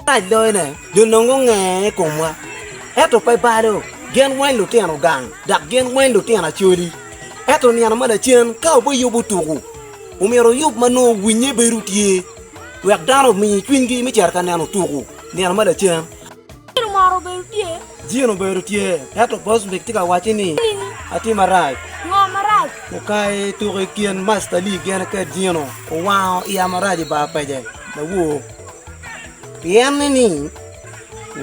Mac doyone dong nongo ngeye i komwa, ento pe balo. Gin weng lutino gang, dok gin weng lutino acoli. Ento nino ma lacen ka obiyubo tuku, omyero oyub ma nongo winnye bedo tye, wek dano omi cwinygi me cito ka neno tuku nino ma lacen. Jin obedo tye, ento Bosvik tye ka wacce ni, Atye marac. Okai tuku i kin Master Lee gene kede Jino, owango iya marac i bar pece. Lawor. Pien ni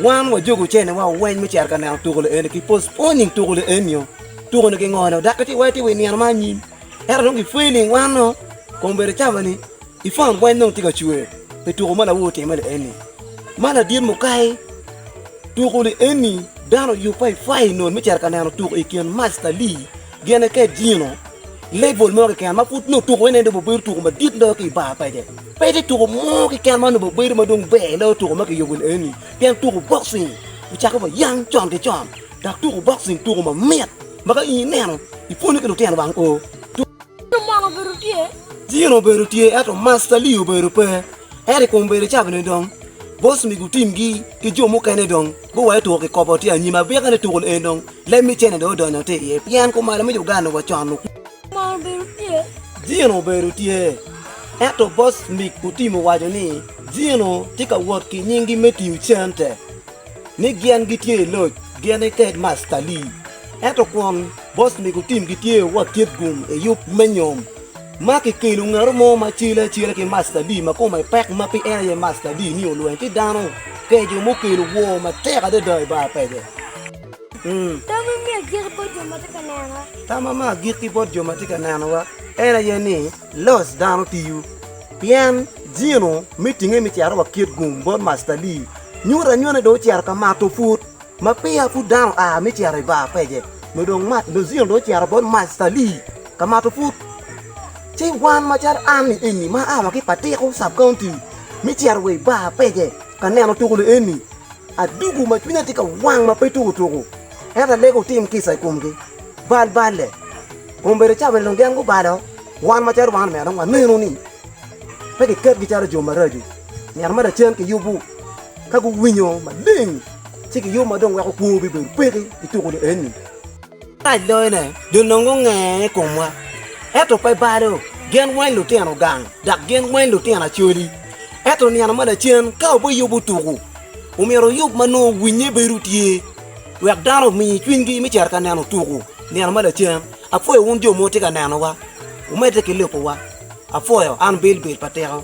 wan wajuko ocene wa weny me cito ka neno tuko lieni ki postpone nying tuko lieni nio. Tuko ni kingo nio dak kiti wai ti wi nino ma anyim. Ento dong gipweny ni wan nio kombedi cama ni i phone weny dong ti ka cwer pi tuko ma lawu otime lieni. Ma ladit mukai tuko lieni dano yubba i fai non me cito ka neno tuko i kin Masta Lee Gin eke dino level mo keken ma pud nongo tuko ene dong obin obedo tuko madit loyo ki i bar pece. Pe tye tuko mo keken ma onongo bedo ma dong ber loyo tuko ma kiyubo eni pien tuko boxing ocako wa yang con ki con dok tuko boxing tuko mamit ma ka in ineno ipwonyo ki lutino wang o. Dino mono obedo tye? Dino obedo tye ento Master Lee obedo pe. Ento i kom bedo cabene dong boss migo timgi ki jo mukene dong Guwai tuko ki kobo tye anyim abika ni tukul eni dong leb me cene dong odonyo tye iye pien kumalo me Uganda wa con okwor. Kumalo obedo tye. Gino obedo tye. Ento boss Mick Otim owaco ni Gino tye ka wot ki nyingi me tiyo cente ni gien gitye i loc gin ki Headmaster Lee. Ento kwon boss Mick Otim gitye wot tyet gum i yub me nyom. ma kikelo ngat mo ma cele acela ki mastadi ma kome pek ma pe en aye mastadi ni olweny ki dano keco mukelo wor matek adada i bar pege. Tam ma miyo agikki bot jo ma tye ka nenowa. Tam ma miyo agikki bot jo ma tye ka nenowa en aye ni loc dano tiyo, pien jino me tinge me cito wakit gum bot mastadi nyuto anyuta ni dong ocito ka mato put. Ma peya pud dano oa me cito i bar pege, nyo dong jino dong ocito bot mastadi. Ka mato put, ci wan macalo an ni eni ma aa wa ki Patiko Sub County me cito wa i bar pece ka neno tuko ni eni, adugo ma cwinya tye ka wang ma pe tuko tuko ento alego otim kica i komgi. Bal balle. Ombedo ca bene dong gin gubalo wan macalo wan omyero dong wanenu ni pe kiketgi calo jo maraco. Myero ma lacen kiyubu ka guwinyo maleng ci kiyub ma dong weko kwo bibedo peki i tuko ni eni. Arac loyone dong nongo ongee i komwa, ento pe balo. Gin weng lutino gang, dok gin weng lutino acoli. Ento nino ma lacen, ka wubiyubo tuku, omyero wuyub ma nongo winnye bedo tye, wek dano omi cwinygi me cito ka neno tuku nino ma lacen. Apwoyo wun jo ma wutye ka nenowa, wumedde ki lubowa. Apwoyo. An Bilbil pa Tiko.